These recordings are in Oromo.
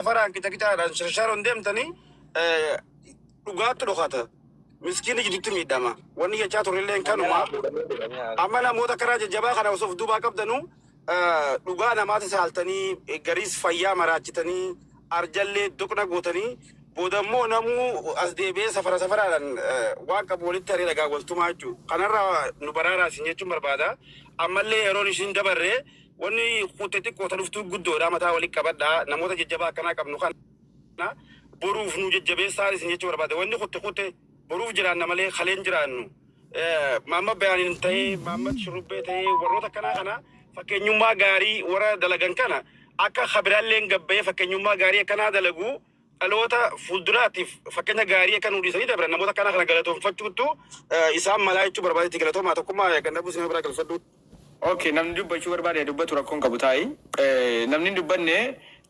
Safaraan qixa qixaadhaan sharsharoon deemtanii eh, dhugaatti dhokata. Miskiinni jidduutti miidhama. Wanni jechaa turrelleen kanuma. Amma namoota karaa jajjabaa kana osoo of duubaa qabdanu eh, dhugaa namaati saaltanii eh, gariis fayyaa maraachitanii arjallee doqna gootanii booda immoo namuu as deebi'ee safara safaraadhaan eh, waan qabu walitti haree dhagaa waltumaa jechuudha. Kanarraa nu baraaraa isin jechuun barbaada. Ammallee yeroon isin dabarree Wanni kutte xiqqoo ta dhuftuu guddoodha mataa wali qabadhaa namoota jajjabaa akkanaa qabnu kana boruuf nuu jajjabeessaa isin jechuu barbaade wanni kutte kutte boruuf jiraanna malee kalee hin jiraannu maamma bayaaniin ta'ee maamma shurrubbee ta'ee warroota akkanaa kana fakkeenyummaa gaarii warra dalagan kana akka kabiraalleen gabbayee fakkeenyummaa gaarii akkanaa dalaguu dhaloota fuulduraatiif fakkeenya gaarii akka nuu dhiisanii dabran namoota akkanaa kana galatoonfachuuttu isaan malaa jechuu barbaade itti galatoomaa tokkummaa gannabuu isin biraa galfadhuu. Ok namni dubbachuu barbaade haa dubbatu rakkoo hin qabu taa'i namni hin dubbanne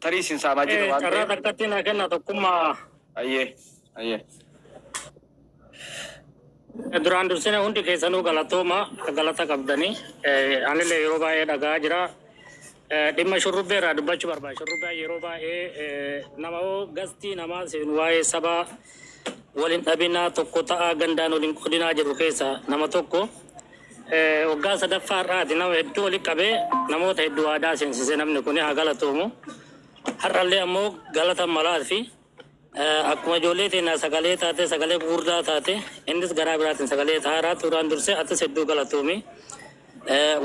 tarii isin saamaa jirra waan Carraa ta'eef. takkatti naa kenna tokkummaa. Ayyee ayyee. Duraan dursine hundi keessanuu galatooma galata qabdanii anillee yeroo baay'ee dhaga'aa jira. Dhimma shurrubbee irraa dubbachuu barbaada. Shurrubbaan yeroo baay'ee nama hoo gastii namaa seenu waa'ee sabaa wal hin dhabinaa tokko ta'aa gandaan wal hin qodinaa jedhu keessa nama tokko waggaa sadaffaa irraati nama hedduu walitti qabee namoota hedduu waadaa seensise namni kun haa galatoomu. Har'allee ammoo galata malaa fi Akkuma ijoollee teenyaa sagalee taatee sagalee gugurdaa taate innis garaa biraatiin sagalee ta'aaraa tuuraan dursee atis hedduu galatoomi.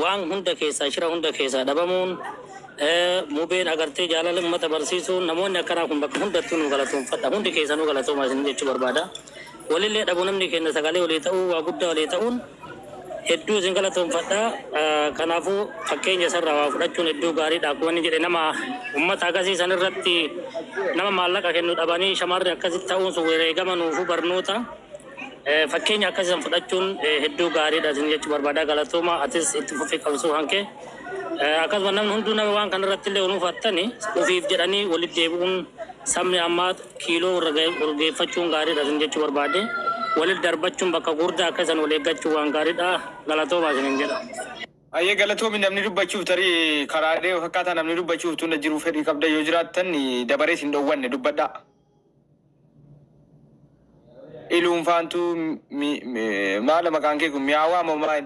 Waan hunda keessaa shira hunda keessaa dhabamuun mubeen agartee jaalala uummata barsiisuun namoonni akkanaa kun bakka hundattuu nu galatoomfadha hundi keessanuu galatooma isin jechuu barbaada. Walillee dhabu namni keenna sagalee walii ta'uu waa guddaa walii ta'uun hedduu isin galatoomfadha. Kanaafuu fakkeenya isarraa waa fudhachuun hedduu gaariidha. Akkuma inni jedhe nama ummata akkasii san irratti nama maallaqa kennu dhabanii shamarri akkasitti ta'uun sun wareegama nuufuu barnoota. Fakkeenya akkasii san fudhachuun hedduu gaariidha isin jechuu barbaada. Galatooma atis itti fufii qabsuu hanke. Akkasuma namni hunduu nama waan kanarratti illee nuuf hattani ofiif jedhanii walitti deebi'uun sabni ammaa kiiloo urgeeffachuun gaariidha isin jechuu barbaade. Walit darbachuun bakka guurdaa akka isan wal eeggachuun waan gaariidha. Galatoomaa isinin jedha. Hayyee galatoomi namni dubbachuuf tarii karaadhee fakkaataa namni dubbachuuf tunda jiruu fedhii qabdan yoo jiraattan dabaree isin dhowwanne dubbadhaa. Iluunfaantuu mi mi maala maqaan kee kun miyaawaa moo maal?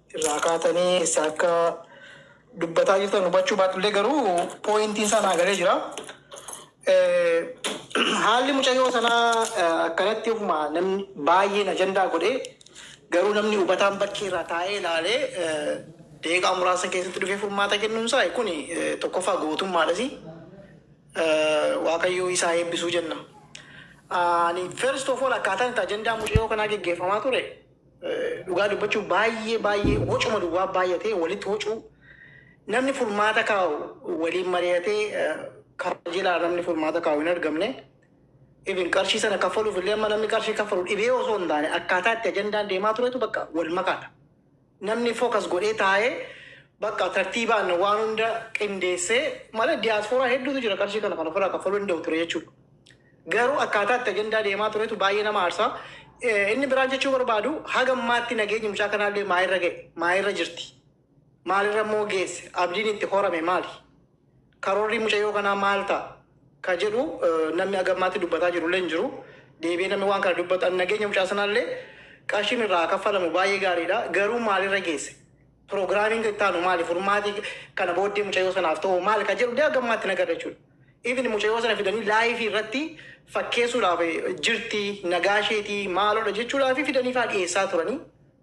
irraa kaatanii eessaa akka dubbataa jirtan hubachuu baadhullee garuu pooyintiin isaa naa galee jira. Haalli mucayyoo sanaa akkanatti ofuma namni baay'een ajandaa godhee garuu namni hubataan bakkee irraa taa'ee ilaalee deeqaa muraasa keessatti dhufee furmaata kennuun isaa kuni tokkoffaa gootummaadhasi. Waaqayyoo isaa eebbisuu jenna. Ani first of all akkaataan itti ajandaa mucayyoo kanaa geggeeffamaa ture Dhugaa dubbachuuf baay'ee baay'ee wocuma duwwaa baay'atee walitti wocuu namni furmaata kaa'u waliin mari'atee eh, kajelaa namni furmaata kaa'u hin argamne. Even qarshii sana kaffaluuf illee amma namni qarshii kaffalu dhibee osoo hin taane akkaataa itti ajandaan deemaa turetu bakka wal makaadha. Namni fookas godhee taa'ee bakka tartiibaan waan hunda qindeessee malee diyaaspooraa hedduutu jira qarshii kana kan ofirraa kaffaluu danda'u ture jechuudha. Garuu akkaataa itti ajandaa deemaa turetu baay'ee nama aarsa. Inni biraan jechuu barbaadu haga ammaatti nageenyi mucaa kanaallee maalirra ga'e? Maalirra jirti? Maalirra immoo geesse? Abdiin itti horame maali? Karoorri mucayyoo kanaa maal ta'a? Ka jedhu namni haga ammaatti dubbataa jirullee hin jiru. Deebi'ee namni waan kana dubbatu ani nageenya mucaa sanaallee qarshiin irraa kaffalamu baay'ee gaariidha. Garuu maalirra geesse? Programming itti aanu maali? Furmaati kana booddee mucayoo sanaaf ta'u maal ka jedhu illee hanga ammaatti hin agarre jechuudha. Even mucayoo sana fidanii live irratti fakkeessuudhaaf jirti, nagaa isheeti, maaloodha jechuudhaaf fidanii faa dhiyeessaa turanii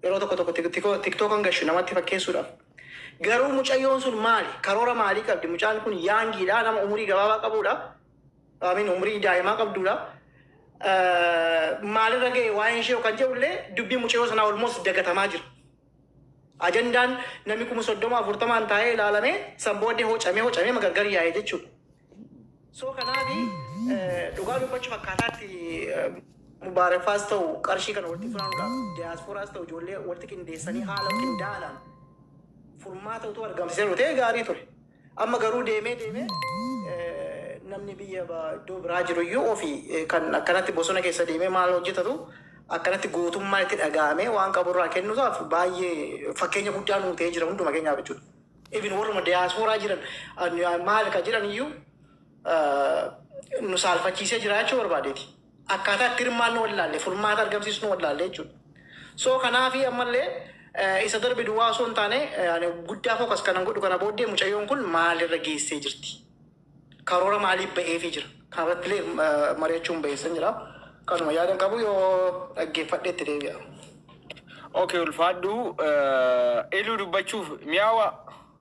yeroo tokko tokko tik- tiko- tiktokan gashu namatti fakkeessuudhaaf. Garuu mucayyoon sun maali? Karoora maalii qabdi? Mucaan kun yaangiidha, nama umurii gabaabaa qabuudha. Amin umurii daa'imaa qabduudha. Eh, Maalirra ga'e waa'een ishee kan jedhu illee dubbii mucayoo sanaa olmoos dagatamaa jira. Ajandaan nami kuma soddoma afurtamaan taa'ee ilaalamee san booddee hocamee hocamee magargar yaa'e jechuudha. So kanaafi dhugaa dubbachuuf akkaataa itti Mubaareffaas ta'u qarshii kana walitti funaanuudhaaf diyaaspooraas ta'u ijoollee walitti qindeessanii haala qindaa'aadhaan furmaata utuu argamsiisee ta'e gaarii ture. Amma garuu deemee deemee namni biyya iddoo biraa jiru iyyuu ofii kan akkanatti bosona keessa deemee maal hojjetatu akkanatti gootummaan itti dhaga'amee waan qabu irraa kennuusaaf baay'ee fakkeenya guddaa nuu ta'ee jira hunduma keenyaaf jechuudha. Even warruma diyaaspooraa jiran maal kan jedhan iyyuu nu saalfachiisee jira jechuu barbaadeeti. akkaataa itti hirmaannu wallaalle, furmaata argamsiisnu wallaalle jechuudha. So kanaafi ammallee isa darbe duwwaa osoo hin taane ani guddaa focus kanan godhu kana booddee mucayyoon kun maalirra geessee jirti? Karoora maaliif ba'eefii jira? Kanarrattillee eh, mari'achuun ba'eessan jira. Kanuma yaadan qabu yoo dhaggeeffadhe itti deebi'a. Okay, ulfaadhu. Eh, Iluu dubbachuuf mi'aawa.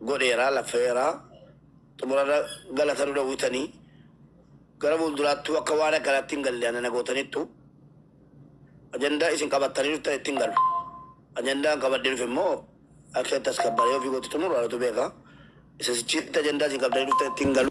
godheera laffeera xumurarra gala kan dhowwitani gara fuulduraattuu akka waan akkanaatti hin galle ana na gootanittu ajandaa isin qabattanii dhuftan itti hin galu ajandaa hin qabadde dhufe immoo akka itti as kabbaree ofii gootti xumuru anatu beeka isa sichiitti ajandaa isin qabdanii dhuftan itti hin galu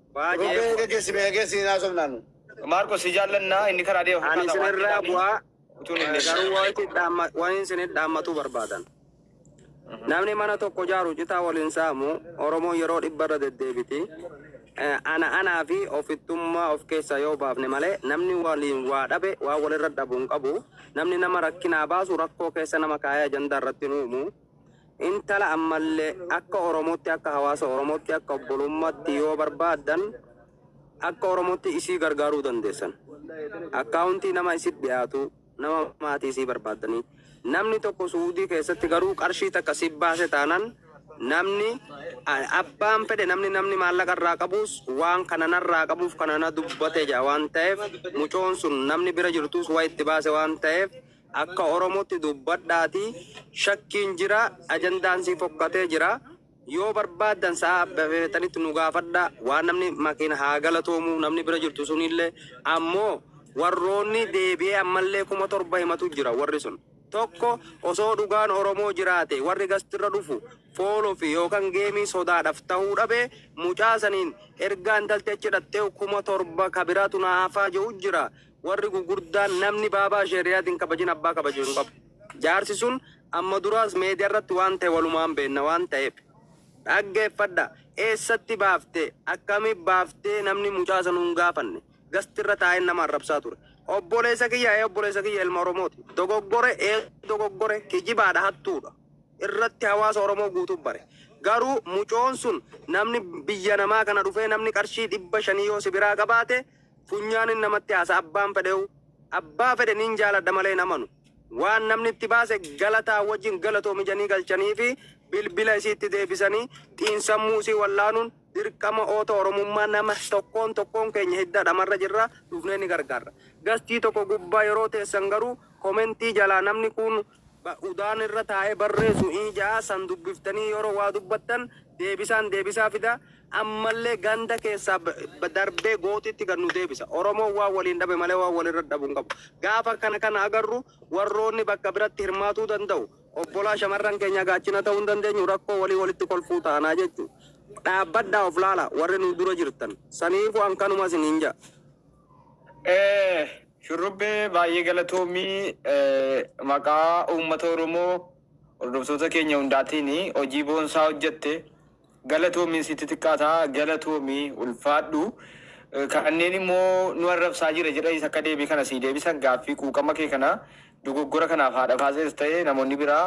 Baay'ee. Rubee geggeessi mee geggeessi hin haasofnaa nu. Maarqos si jaallannaa inni karaa deema Ani fakkaata waan isinirraa jedhaanii bu'aa utuu hin eh, garuu waan itti dhaamma- waan isinitti dhaammatuu barbaadan. Namni mana tokko jaaru citaa waliin saamu Oromoon yeroo dhibba irra deddeebiti. Eh, Ana anaa fi ofittummaa of keessaa yoo baafne malee namni waliin waa dhabe waan walirra dhabu hin qabu. Namni nama rakkinaa baasu rakkoo keessa nama kaa'ee ajandaa irratti hin uumu. Intala ammalle akka Oromotti akka hawaasa Oromotti akka obbolummatti yoo barbaaddan akka Oromotti isii gargaaruu dandeessan. Akkaawuntii nama isitti dhiyaatu nama maatii isii barbaaddanii namni tokko Suudii keessatti garuu qarshii takka si baase taanan namni abbaan fedhe namni namni maallaqa irraa qabuus waan kana narraa qabuuf kana na dubbate jedha waan ta'eef mucoon sun namni bira jirtuus waa itti baase waan ta'eef Akka oromotti dubbadhaati shakkiin jira ajandaan sii fokkatee jira yoo barbaaddan sa'a feetanitti nu gaafadha waan namni makin haa galatoomu namni bira jirtu sunillee ammo warroonni deebi'ee ammallee kuma torba himatu jira warri sun tokko osoo dhugaan oromoo jiraate warri gastirra dhufu foolo fi yookan geemii sodaadhaf tahuu dhabe mucaa saniin ergaa intalti achi dhaxxeehu kuma torba kabiraatu naa hafaa je'u jira Warri gugurdaan namni baabaa sheeriyaatiin hin kabajin abbaa kabaju hin qabu. Jaarsi sun amma duraas meediyaa irratti waan ta'e walumaan beenna waan ta'eef. Dhaggeeffadha. Eessatti baafte? Akkami baaftee namni mucaa sanu hin gaafanne. Gasti irra taa'een nama arrabsaa ture. Obboleessa kiyya ee obboleessa kiyya ilma Oromooti. Dogoggore ee dogoggore kijibaadha hattuudha. Irratti hawaasa Oromoo guutuu bare. Garuu mucoon sun namni biyya namaa kana dhufee namni qarshii dhibba shanii yoo si biraa qabaate funyaanin namatti haasa abbaan fedheyu abbaa fedhe nin jaaladha malee hin amanu waan namni itti baase galataa wajjin galatoomi janii galchaniifi bilbila isiitti deebisani xiinsammuu isii wallaanuun dirqama oota oromummaa nama tokkoon tokkoon keenya hidda dhamarra jirra dhufnee ni gargaarra gastii tokko gubbaa yeroo teessan garuu komentii jalaa namni kuun ba udaan irra taa'ee barreesu hin ja'a san dubbiftanii yeroo waa dubbattan deebisaan deebisaa fida ammallee ganda keessaa b- b- darbee gootitti gad nu deebisa oromoon waan waliin dhabe malee waan walirra dhabu hin qabu gaafa kana kana agarru warroonni bakka biratti hirmaatuu danda'u obbolaa shamarran keenya gaachina ta'uu hin dandeenyu rakkoo walii walitti kolfuu taanaa jechuu dhaabbadhaa of laala warri nu dura jirtan saniifu an kanuma isiniin ja'a Shurrubbee baay'ee galatoomi maqaa uummata Oromoo hordoftoota keenya hundaatiin hojii boonsaa hojjette galatoomi sitti xiqqaata galatoomi ulfaadhu kanneen immoo nu arrabsaa jira jedhanis akka deebii kana sii deebisan gaaffii quuqama kee kana dogoggora kanaaf haadha faasees ta'e namoonni biraa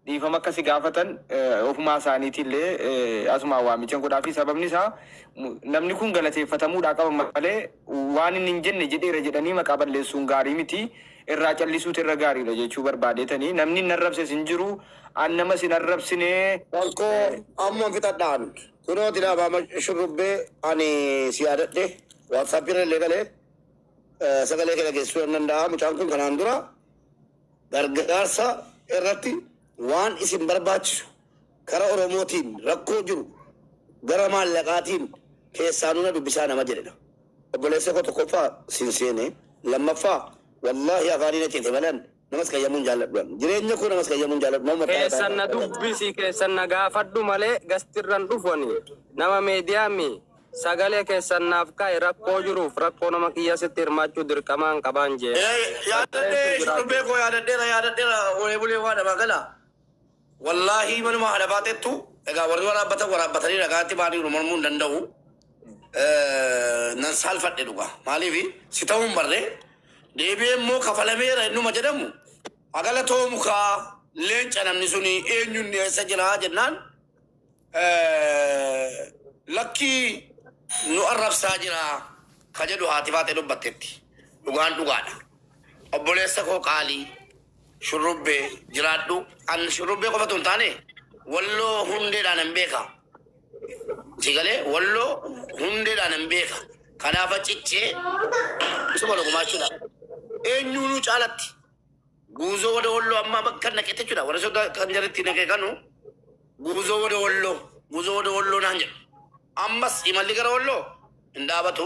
dhiifama akka si gaafatan ofumaa isaaniitii illee asumaan waamichan godhaafi sababni isaa namni kun galateeffatamuudhaa qaba malee waan inni hin jenne jedheera jedhanii maqaa balleessuun gaarii miti irraa callisuutu irra gaariidha jechuu barbaadeetanii namni hin arrabses hin jiru an namas hin arrabsinee Rakkoo amman fixadhaan kunoo tilaabaama shurrubbee ani si yaadadhe waatsaappiirra illee galee sagalee kee dhageessisuu nan danda'a mucaan kun kanaan dura Gargaarsa irratti waan isin barbaachisu kara oromootiin rakkoo jiru gara maallaqaatiin keessaa nuna dubbisaa nama jedhedha obboleessa koo tokkoffaa sin seene lammaffaa wallahi afaanii na cite malan namas qayyamuu hin jaalladhu an jireenya koo namas qayyamuu hin jaalladhu nama mataa keessan na irraa dubbisi keessan na gaafadhu malee gastirran dhufu ani nama media mi Sagalee keessan naaf kaa'i rakkoo jiruuf rakkoo nama kiyya sitti hirmaachuu dirqamaan qabaan jee. Ee yaadadhee shurrubbee koo yaadadheera yaadadheera olee bulee waa namaa galaa wallaahii manuma haadha baaxettu egaa warri waraabbatan waraabbatanii dhagaatti baaniiru mormuu hin danda'u nan saalfadhe dhugaa maaliif si ta'uu hin barree deebi'ee immoo kafalameera innuma jedhamu hagala toomu kaa leenca namni suni eenyuun dhiyeessa jira jennaan Lakkii nu arrabsaa jira ka jedhu haati Faaxee dubbatteetti. Dhugaan dhugaadha. Obboleessa koo qaalii shurrubbee jiraadhu. An shurrubbee qofatu hin taane walloo hundeedhaan hin beeka. Si galee walloo hundeedhaan hin beeka. Kanaafa cichee si godha gumaachuudhaan. Eenyuunuu caalatti. Guuzo wada wollo amma bakka naqete chudha wara soda kan jaritti naqe kanu guuzo wada wollo guuzo wada wollo naan jedhu ammas imalli gara wollo hin dhaabatu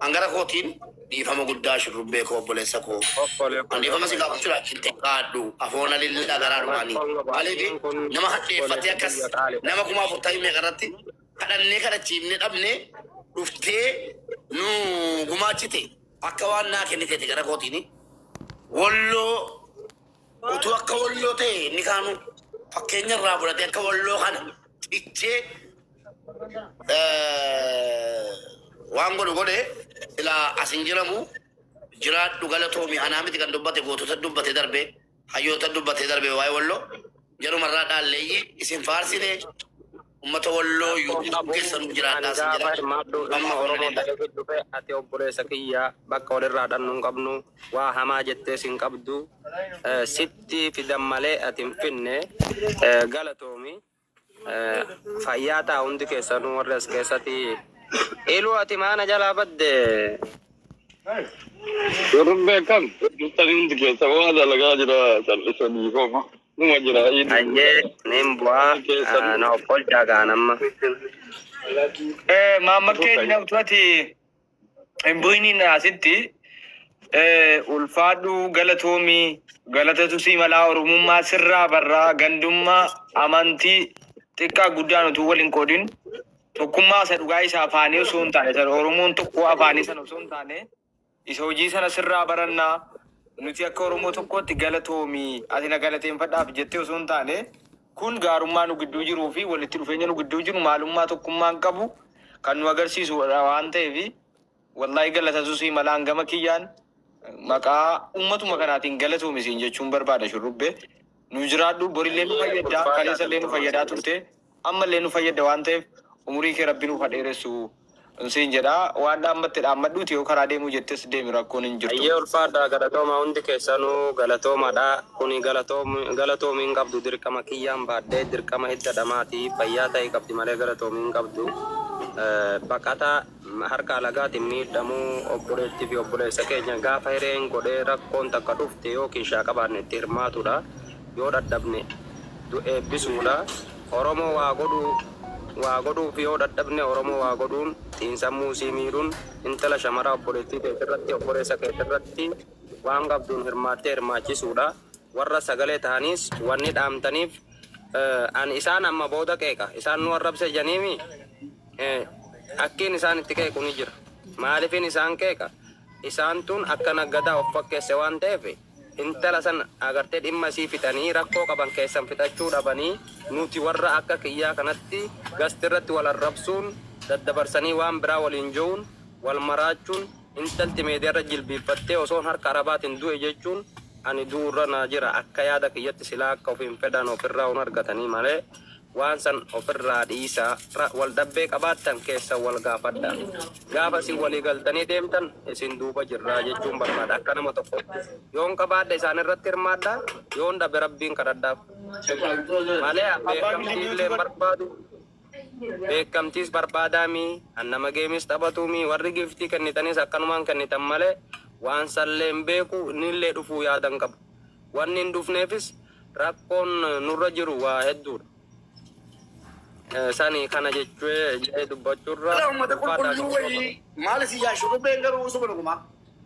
hangara kootiin dhiifama guddaa shurrubbee koo obboleessa koo an dhiifama si gaafachuudha hin xiqqaadhu afoona lillaa garaa dhumaanii maaliifi nama hadheeffatee akkas nama kuma afur ta'ii meeqa irratti kadhannee kadhachiifne dhabne dhuftee nu gumaachite Akka waan naa kenniteeti gara kootiini Walloo utuu akka Walloo ta'e inni kaanu fakkeenya irraa fudhatee akka Walloo kana cichee eh, waan godhu godhe silaa as hin jiramu jiraadhu galatoomi anaa miti kan dubbate gootota dubbate darbe Hayyoota dubbatee darbe waa'ee Walloo jaruma irraa dhaalleeyyi isin faarsine ummata Walloo Rakkoo YouTube qabu keessa nuuf jiraadhaa ani sin gaafa jedha. hirmaadhu Dhugamaa dhimma Oromoo Oromoo ta'e ta'e dhufe ati obboleessa kiyya bakka walirraa dhannu hin qabnu waa hamaa jettees hin qabdu Eh, sitti fidan malee ati hin finne Eh, galatoomi Fayyaa ta'a hundi keessanuu warri as keessatti. Iluu ati maana jalaa badde. Warri beekan jirtanii hundi keessa waa dalagaa jira callisanii hooma. Numa jira iluu. Ayyee nin bu'aa na offolchaa kaan amma. Maammad keenya nafxati. Hin bu'iniin asitti ulfaadhuu galatoomii galatatu sii malaa oromummaa sirraa barraa gandummaa amantii xiqqaa guddaan utuu wal hin qoodin tokkummaa isa dhugaa isa afaanii osoo hin taane isa oromoon tokkoo afaanii sana osoo hin taane isa hojii sana sirraa barannaa nuti akka oromoo tokkootti galatoomii ati na galateeffadhaaf jettee osoo hin taane Kun gaarummaa nu gidduu jiruu fi walitti dhufeenya nu gidduu jiru maalummaa tokkummaan qabu kan nu agarsiisu dha waan ta'eef wallahi galatatu sii mala an gama kiyyaan maqaa ummatuma kanaatiin galatoomi siin jechuun barbaada shurrubbe nu jiraadhu borillee nu fayyadda kaleessallee nu fayyadaa turte ammallee nu fayyadda waan ta'eef umurii kee rabbi nuuf ha dheeressu. An siin jedha waan dhaammatte dhaammadhuuti yoo karaa deemuu jettes deemi rakkoon hin jirtu. Hayyee ulfaadhaa galatoomaa hundi keessanuu galatoomadha kuni galatoomi hin qabdu dirqama kiyyaan baadhee dirqama hidda dhamaati fayyaa ta'i qabdi malee galatoomi hin qabdu baqata harka alagaatin miidhamu obboleetti fi obboleessa keenya gaafa hireen godhee rakkoon takka dhufte yoo kiishaa qabaanne itti hirmaatudha yoo dhadhabne eebbisuudha Oromoo waa godhu waa godhuuf yoo dhadhabne Oromoo waa godhuun xiinsammuu sii miidhuun intala shamaraa obboleettii teetirratti obboleessa keetirratti waan qabduun hirmaattee hirmaachisuudha warra sagalee tahaniis wanni dhaamtaniif an isaan amma booda qeeqa isaan nu arrabse janiimi akkiin isaan itti qeequ ni jira maalifiin isaan qeeqa isaan tun akka naggadaa of fakkeesse waan ta'eef Intala san agartee dhimma isii fixanii rakkoo qaban keessan fixachuu dhabanii nuti warra akka kiyyaa kanatti gast irratti wal arrabsuun daddabarsanii waan biraa waliin jeuun wal maraachuun intalti meediarra jilbiiffattee osoon harka arabaatin due jechuun ani du'urra naa jira akka yaada kiyyatti silaa akka ofiin fedhan ofirraa un argatanii malee Waan san of irraa dhiisaa. Ra wal dhabbee qabaattan keessan wal gaafadhaa. Gaafa isin walii galtanii deemtan isin duuba jirraa jechuun barbaada. Akka nama tokkootti. Yoon qabaadhe isaan irratti hirmaadhaa, yoon dhabe Rabbiin kadhadhaaf. Malee an beekkamtii illee hin barbaadu. Beekkamtiis barbaadaa mii, an nama geemiis taphatuu mii, warri giiftii kennitanis akkanumaan kennitan malee waan san illee hin beeku, inni illee dhufuu yaada hin qabu. Wanni hin dhufneefis rakkoon nurra jiru waa hedduudha. Sani kana jechue jedhee dubbachuurra Ala ummata ulfaataa qulqulluu ta'uu wayii qaba. maal isin yaa shurrubbeen garuu usuma dhugumaa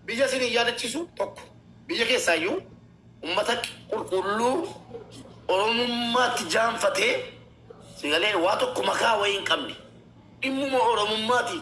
biyya isin hin yaadachiisu tokko biyya keessaayyuu ummata qulqulluu oromummaatti jaanfatee sigalee waa tokko makaa wayii hin qabne dhimmuma oromummaati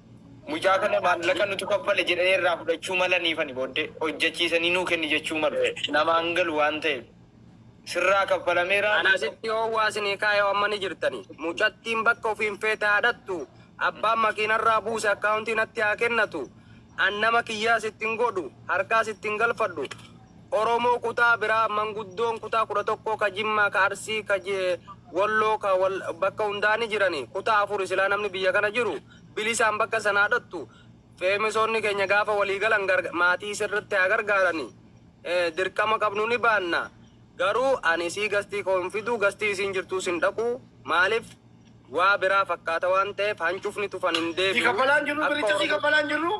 Mucaa kana maallaqa nutu kaffale jedhanii irraa fudhachuu malaniifani booddee hojjechiisanii nuu kenni jechuu malu. Namaa hin galu waan ta'eef. Sirraa kaffalameera. Ana sitti oowwaa sinii kaayoo amma ni jirtani. Mucattiin bakka ofiin feete haa dhaqxu. Abbaan makiinarraa buuse akkaawuntii natti haa kennatu. An nama kiyyaa sitti hin godhu. Harkaa sitti hin galfadhu. Oromoo kutaa biraa, manguddoon kutaa 11 ka Jimmaa, ka Arsii, ka Walloo, ka bakka hundaa ni jirani. Kutaa afuri silaa namni biyya kana jiru bilisaan bakka sanaa dhaqxu. Feemesoonni keenya gaafa walii galan maatii sirritti haa gargaarani. Dirqama qabnu ni baanna. Garuu ani isii gastii koo hin fidu, gastii isiin jirtuus hin dhaqu. Maalif waa biraa fakkaata waan ta'eef hancufni tufan hin deebi'u. Akka Oromoo.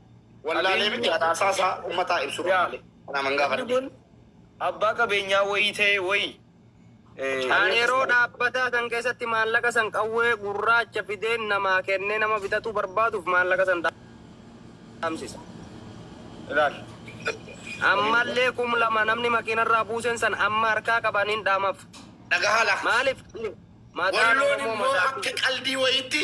wallaalee miti haasaa isaa ummataa ibsuu Yaa. malee. Kanaaf hin Namni gaafanne. kun abbaa qabeenyaa wayii ta'e wayii. eh, Kan yeroo dhaabbataa san keessatti maallaqa san qawwee gurraacha fideen namaa kennee nama bitatuu barbaaduuf maallaqa san dhaamsisa. Ilaali. Ammallee kum lama namni makiinarraa buusen san amma harkaa qaban hin dhaamaf. Dhagahaa lafa. Maaliif? Mataan Walloon Oromoo immoo mataa akka qaldii wayiitti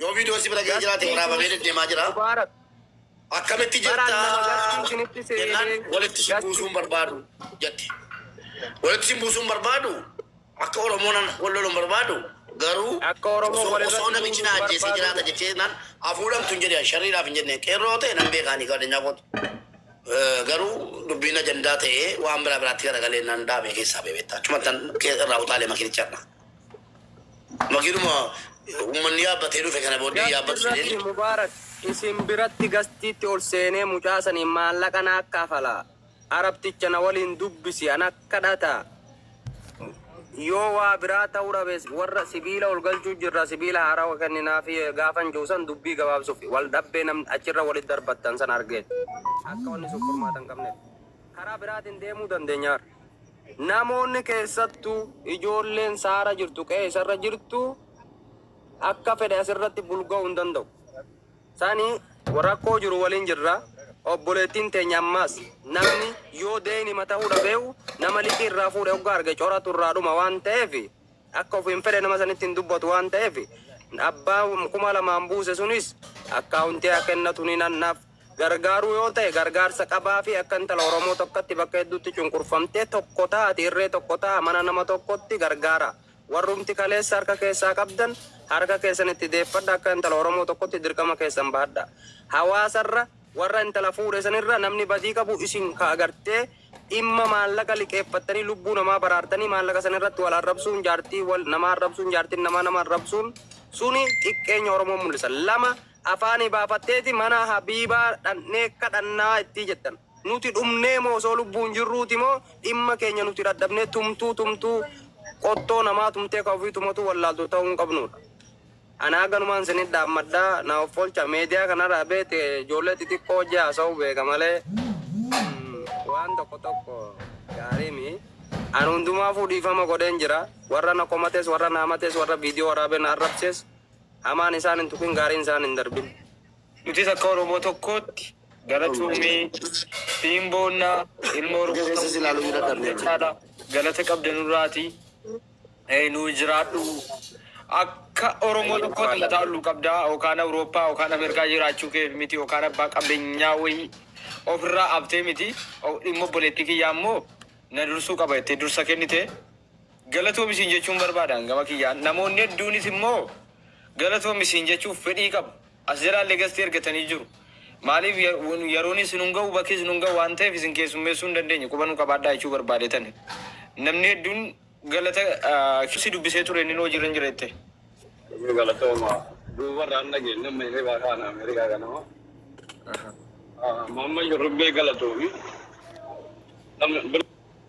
Yoo viidiyoon si bira ga'ee jiraate waraabamee deddeemaa jira. Mubaarak. Akkamitti Baraan jirta nama gartuu isinitti jennaan seenee walitti si gastuu. buusuun barbaadu jette. Walitti si buusuun barbaadu akka Oromoonan wal loluun barbaadu garuu Akka Oromoo osoo walirratti osoo namichi na buusuun ajjeesee barbaadu. jiraata jettee jennaan afuudhamtu hin jedhe sharriidhaaf hin jenne qeerroo ta'e nan beekaa ni gaadinyaa kooti. Eh, Garuu dubbiin ajandaa ta'ee waan biraa biraatti garagalee nan dhaabee keessaa beebetta. Achumattan irraa utaalee makinicharra. Makiinuma uummanni yaabbatee dhufe kana booddee Gasti yaabbatu irratti jedheen. Mubaarak isin biratti gastiitti ol seenee mucaa saniin maallaqa naaf kafalaa, Arabticha na waliin dubbisi, anaf kadhata, yoo waa biraa ta'uu dhabes warra sibiila ol galchuu jirra, sibiila haarawa kenninaafi gaafan jedhu san dubbii gabaabsuuf wal dhabbee namni achirra walitti darbattan san argee akka wanni sun furmaata hin qabneef karaa biraatiin deemuu dandeenya. Namoonni keessattu ijoolleen saara jirtu qe'ee isarra jirtu akka fedhe asirratti bulga'u hin danda'u. Sani rakkoo jiru waliin jirra. Obboleettiin teenya ammaas namni yoo deynima ta'uu dhabeewu nama liqii irraa fuudhe hoggaa arge coratu irraa dhuma waan ta'eef akka ofiin fedhe nama sanitti hin dubbatu waan ta'eef abbaa kuma lamaan buuse sunis akkaawuntii haa kennatu ni nannaaf gargaaruu yoo ta'e gargaarsa qabaafi akka intala Oromoo tokkotti bakka hedduutti cunqurfamtee tokko taati irree tokko ta'a mana nama tokkotti gargaara warrumti kaleessa harka keessaa qabdan harka keessan itti deeffadha akka intala Oromoo tokkotti dirqama keessan bahadha hawaasarra warra intala fuudhe sanirra namni badii qabu isin ka agartee dhimma maallaqa liqeeffattanii lubbuu namaa baraartanii maallaqa sanirratti wal arrabsuun jaartii wal namaa arrabsuun jaartiin namaa nama arrabsuun suni xiqqeenya Oromoo mul'isa lama afaanii baafatteeti mana Habiibaa dhaqnee kadhannaa ittii jettan. Nuti dhumnee moo osoo lubbuun jirruuti moo dhimma keenya nuti dhadhabnee tumtuu tumtuu qottoo namaa tumtee ka ofii tumatuu wallaaltu ta'uu hin qabnuudha. Ani haga numaan isinii dhaammadha na offolcha media kanaraa beete ijoollee xixiqqoo wajji haasa'uu beeka malee waan tokko tokko gaarii mi ani hundumaafuu dhiifama godheen jira warra na komates warra na hamates warra video waraabee na arrabses Hamaan isaan hin tuqin, gaariin isaan hin darbin. Nutis akka Oromoo tokkootti galatoomii siin boonna ilmoo rukkutamuu caala galata qabda nurraati nuu jiraadhu akka Oromoo tokkootti mataa olluu qabda okaan Awurooppaa okaan Ameerikaa jiraachuu keef miti okaan abbaa qabenyaa wayii ofirraa abtee miti dhimma obboleettii kiyyaa immoo na dursuu qaba jettee dursa kennite Galatoomi siin jechuun barbaada an gama kiyyaan. Namoonni hedduunis immoo galatoomi siin jechuuf fedhii qabu. As jalaallee gastii ergatanii jiru. Maaliif ya- wan- yeroon isin hin ga'u bakki isin hin ga'u waan ta'eef isin keessummeessuu hin dandeenye quba nu qabaadhaa jechuu barbaadeetani. Namni hedduun galata ah, si dubbisee ture inni hojii irra hin jira jettee. Inni galatooma duubarraa hin dhageenye amma ishee baakaa ana Ameerikaa kanama. Mamma shurrubbee galatoomi. Namni bir-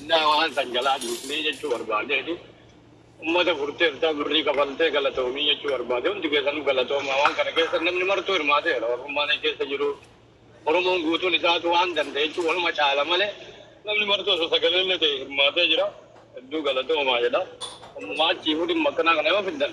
Indaa waan san jalaa dhiifnee jechuu barbaadeeti. Ummata furteertaa birrii kafaltee galatoomii jechuu barbaade. Hundi keessanuu galatoomaa waan kana keessa namni martuu hirmaateera. Oromummaan achi keessa jiru Oromoon guutuun isaatu waan danda'e jechuun waluma caala malee namni martuu osoo sagaleellee ta'e hirmaatee jira. Hedduu galatoomaa jedha. Ammumaa achiifuu dhimma akkanaa kana yoo fiddan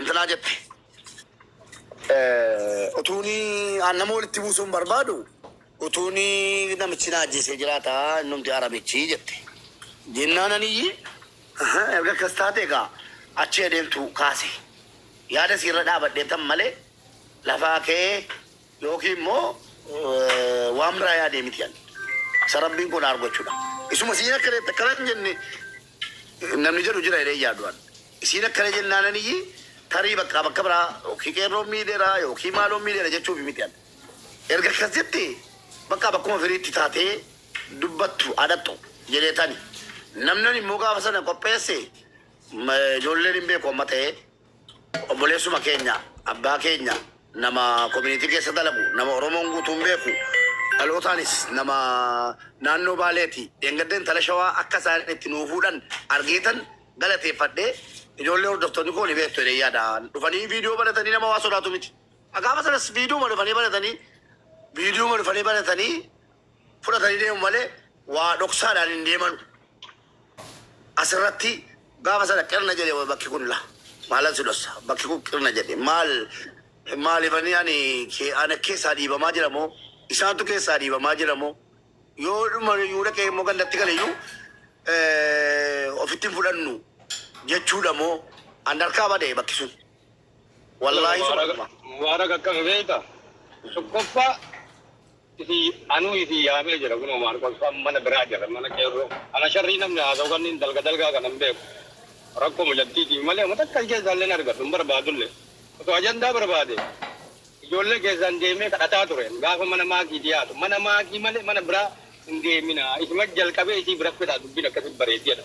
intalaa jette. Utuuni an nama walitti buusuu hin barbaadu utuuni namichi na ajjeesee jiraata innumti aramichi jette. Jennaan aniyyi "Aha, erga akkas taate egaa achi adeemtu kaase yaada siirra dhaabadhee tan malee lafaa ka'ee yookiin immoo eh, waan biraa yaadee miti ani. Isa rabbiin koo na argochuudha. Isuma siin akka deette akkana hin jenne namni jedhu jira jedhee yaadu an. Isiin akkana jennaananiyyi tarii bakka bakka biraa yookiin qeerroon miidheera yookiin maaloon miidheera jechuufi miti an. Erga akkas jette bakka bakkuma firiitti taatee dubbattu haa dhaqxu jedheetani. Namni ani immoo gaafa sana qopheesse ijoolleen hin beeku amma ta'ee. Obboleessuma keenya, abbaa keenya, nama community keessa dalagu, nama Oromoon guutuun beeku, dhalootaanis nama naannoo Baaleeti. Dheengadda intala Shawaa akka isaan itti nuu fuudhan argeetan galateeffadhe. Ijoollee hordoftoonni koo ni beektu jedheen yaada. Dhufanii viidiyoo banatanii nama waa sodaatu miti. Gaafa sanas viidiyooma dhufanii banatanii viidiyooma dhufanii banatanii fudhatanii deemu malee waa dhoksaadhaan hin deemanu. Asirratti gaafa sana qirna jedhe wa bakki kun la maalan si dhossa bakki kun qirna jedhe maal maalifani ani ke ana keessaa dhiibamaa jira moo isaantu keessaa dhiibamaa jira moo yoo dhuma yuu dhaqee immoo gandatti gale iyyuu eh, ofitti hin fudhannu jechuudha moo an harkaa bade bakki sun wallaahi Mubarak, sumadhuma Mubarak akka beekta. Tokkoffaa Itti anuu isin yaamee jira kunoo Maarqos faa mana biraa jira mana qeerroo ana sharrii namni haasa'u kanniin dalga dalgaa kana hin beeku rakkoo mucattiitiif malee homa takka si keessaa illee hin argadhu hin barbaadu illee osoo ajandaa barbaade ijoollee keessaan deemee kadhataa ture gaafa mana maakii dhiyaatu mana maakii malee mana biraa hin deeminaa isuma jalqabee isii bira fedhaa dubbiin akkasitti bareeddi jedha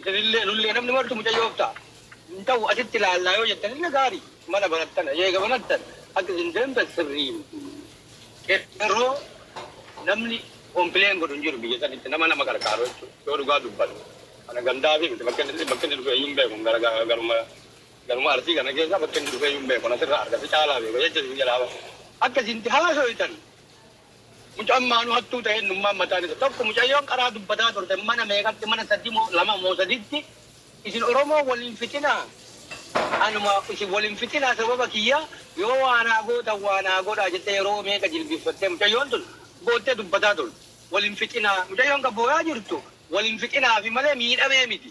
Isinillee nullee namni martu mucayyoof ta'a. Hin ta'u asitti ilaallaa yoo jettanillee gaari. Mana banattan eega banattan akka isin deemtan sirrii miti. Qeerroo namni complain godhu hin jiru biyya sanitti nama nama qarqaaru jechuudha yoo dhugaa dubbanne. Kana gandaafi miti bakka inni bakka inni dhufeeyyuu hin beeku hin gara garuma garuma Arsii kana keessa bakka inni dhufeeyyuu hin beeku. Ani asirraa arga si caalaa beeka jecha isin jedhaa bara. Akka isin itti haasoytan Mucan maanu hattuu ta'e innummaan mataan isa tokko mucayyoon qaraa dubbataa turte mana meeqatti mana sadii moo lama moo saditti isin oromoo wal hin fixinaa anuma isin wal hin fixinaa sababa kiyya yoo waa naa gootan waa naa godhaa jettee yeroo meeqa jilbiffattee mucayyoon tun boottee dubbataa turte wal hin fixinaa mucayyoon ka booyaa jirtu wal hin fixinaafi malee miidhamee miti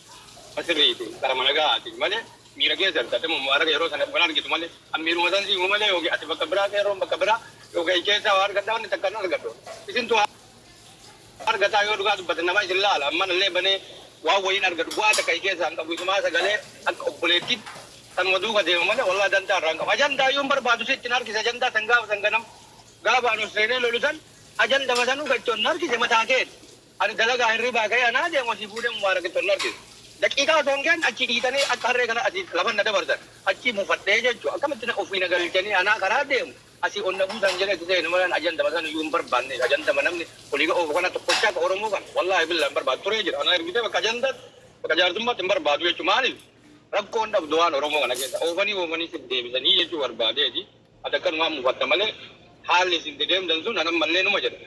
Ka sirriiti karama nagahaatiin malee miira keessatti ati immoo mubaaraka yeroo sana waan argitu malee an miiruma san si himu malee yookiin ati bakka biraa qeerroon bakka biraa yookiin achi keessaa waa argadhaa wanni takka hin argadhu isintu haa argataa yoo dhugaa dubbatan nama isin laala an mana illee banee waan wayiin argadhu bu'aa takka achi keessaa hin qabu isumaa sagalee akka obboleettiitti sanuma duuka deema malee wallahi dantaa irraa hin qabu ajandaa iyyuu hin barbaadu sitti hin harkise ajandaa san gaafa san ganama gaafa an ol seenee lolu san ajandama sanuu ka itti ol na harkise mataa keeti Ani dalagaa hirribaa ka'ee anaa deemu asii fuudhee Mubaarakitti ol na harkise. Daqiiqaa osoo hin geenye achii dhiitanii akka harree kana asii lafan na dabarsan. Achii mufadhee jechuun akkamitti na ofii na galchanii anaa karaa deemu asii ol na buusan jedhee itti seenu malee ani ajandama san iyyuu hin barbaanne. Ajandama namni olii gad oofu kana tokkochaa ka Oromoo kana wallaahi billahi hin barbaadu turee jira. Anaa ergitee bakka ajandaatti bakka jaarsummaatti hin barbaadu jechuun maaliif rakkoo hin dhabdu waan Oromoo kana keessa oofanii oofanii sif deebisanii jechuu barbaadeeti. Ati akkanumaan mufatta malee haalli isin itti deemtan sun an ammallee numa jedha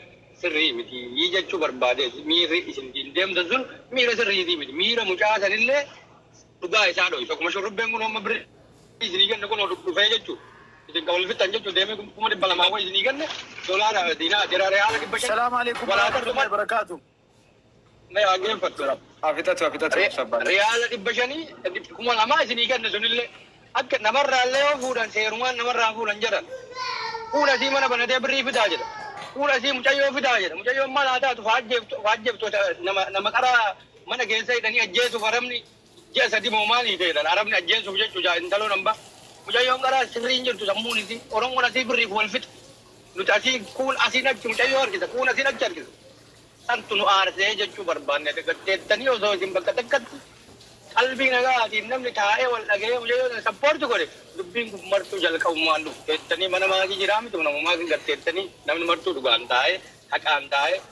sirrii miti jechuu barbaadeeti. Miirri isin ittiin deemtan sun miira sirriitii miti. Miira mucaa sanillee dhugaa isaa dhoysa. Akkuma shurrubbeen kunoo amma birrii isinii kenne kunoo dhufee jechuu isin kan wal fixxan jechuu deemee kuma dhibba lamaa wayii isinii kenne dolaara diinaa jira reyaala dhibba shan Assalaamu aleykum walaa warahmatullahi tartumaa. wabarakatuh. Mee haa geeffattu rab. Haa fixatu haa fixatu obsa abbaan. Riyaala dhibba shanii kuma lamaa isinii kenne sunillee akka namarraallee yoo fuudhan seerumaan namarraa fuudhan jedhan. Fuula isii mana banatee birrii fidaa jedha. Fuula isii mucayyoo fidaa jedha. Mucayyoon maal haa taatu of haa ajjeeftu of haa ajjeeftu nama qara mana keessa hidhanii ajjeesuuf arabni Ji'a sadi moo maalii feetan arabni ajjeessuuf jechu jaa intaloon ambaa mucayyoon qaraa sirrii hin jirtu sammuun isii oromoon asii birriif wal fixa nuti asii kuun asiin achi mucayyoo harkisa kuun asiin achi harkisa santu nu aarsee jechuu barbaanne dagateettanii osoo isin bakka takkatti qalbii nagaatiin namni taa'ee wal dhaga'ee mucayyoo san sappoorti godhe dubbiin kun martuu jalqabumaan dhufteettanii mana maatii jiraa miti namumaa isin garteettanii namni martuu dhugaan taa'ee haqaan taa'ee